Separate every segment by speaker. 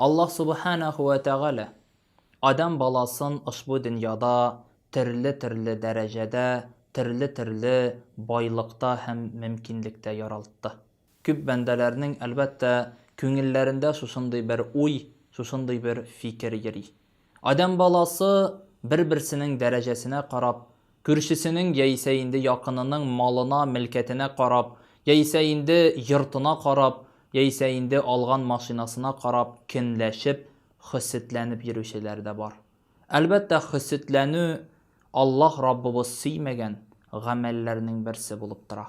Speaker 1: Аллаһ Субханәһү вә Тәгалә адәм баласын ошбу дөньяда төрле-төрле дәрәҗәдә, төрле-төрле байлыкта һәм мөмкинлектә яралтты. Күп бәндәләрнең, әлбәттә, күңелләрендә шушындый бер уй, шушындый бер фикер йөри. Адәм баласы бер-берсенең дәрәҗәсенә карап, күршесенең яисә инде якынының малына, мелкәтенә карап, яисә инде йортына карап, яисә инде алган машинасына карап кенләшеп, хөсетләнеп йөрүчеләр дә бар. Әлбәттә, хөсетләнү Аллаһ Раббыбыз сөймәгән гамәлләрнең берсе булып тора.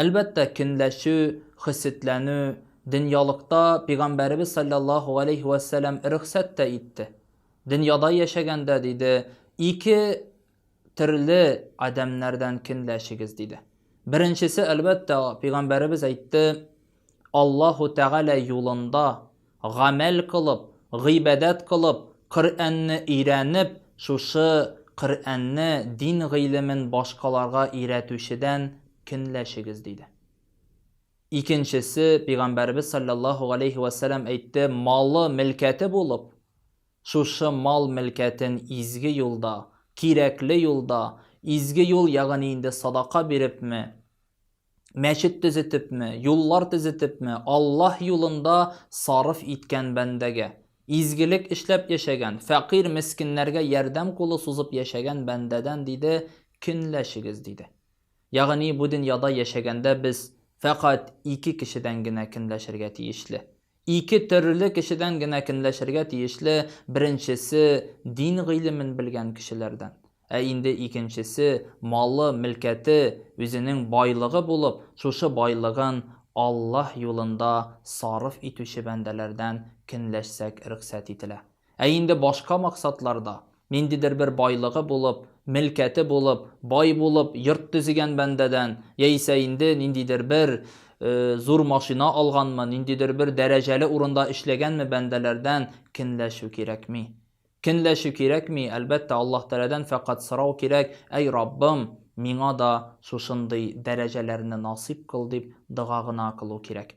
Speaker 1: Әлбәттә, көнләшү, хөсетләнү, дөньялыкта Пигамбәребез салләллаһу галәйһи вә сәләм рөхсәт тә итте. Дөньяда яшәгәндә, диде, ике төрле адәмнәрдән көнләшегез, диде. Беренчесе, әлбәттә, Пигамбәребез әйтте, Аллаһу Тәгалә юлында гамәл кылып, гыйбадәт кылып, Коръәнне өйрәнеп, шушы Коръәнне, дин гыйлемен башкаларга өйрәтүчедән көнләшегез, диде. Икенчесе, Пәйгамбәребез салләллаһу галәйһи вә сәлам әйтте, малы, мелкәте булып, шушы мал, мелкәтен изге юлда, кирәкле юлда, изге юл, ягъни инде садака бирепме, мәчет төзетепме, юллар төзетепме, Аллаһ юлында сарыф иткән бәндәгә, изгелек эшләп яшәгән, фәкыйрь мескеннәргә ярдәм кулы сузып яшәгән бәндәдән диде, көнләшегез, диде. Ягъни бу дөньяда яшәгәндә без фәкать ике кешедән генә көнләшергә тиешле. Ике төрле кешедән генә кенләшергә тиешле, беренчесе, дин гыйлемен белгән кешеләрдән. Ә инде икенчесе, малы, мөлкәте, үзенең байлыгы булып, шушы байлыгын Аллаһ юлында сарыф итүче бәндәләрдән кенләшсәк рөхсәт ителә. Ә инде башка максатларда, ниндидер бер байлыгы булып, мелкәте булып, бай булып, йорт төзегән бәндәдән, яисә инде ниндидер бер зур машина алганмы, ниндидер бер дәрәҗәле урында эшләгәнме бәндәләрдән кенләшү кирәкми. Кенләшү кирәкми, әлбәттә, Аллаһ Тәгаләдән фәкать сорау кирәк, Әй Раббым, миңа да шушындый дәрәҗәләрне насыйп кыл, дип дога гына кылу кирәк.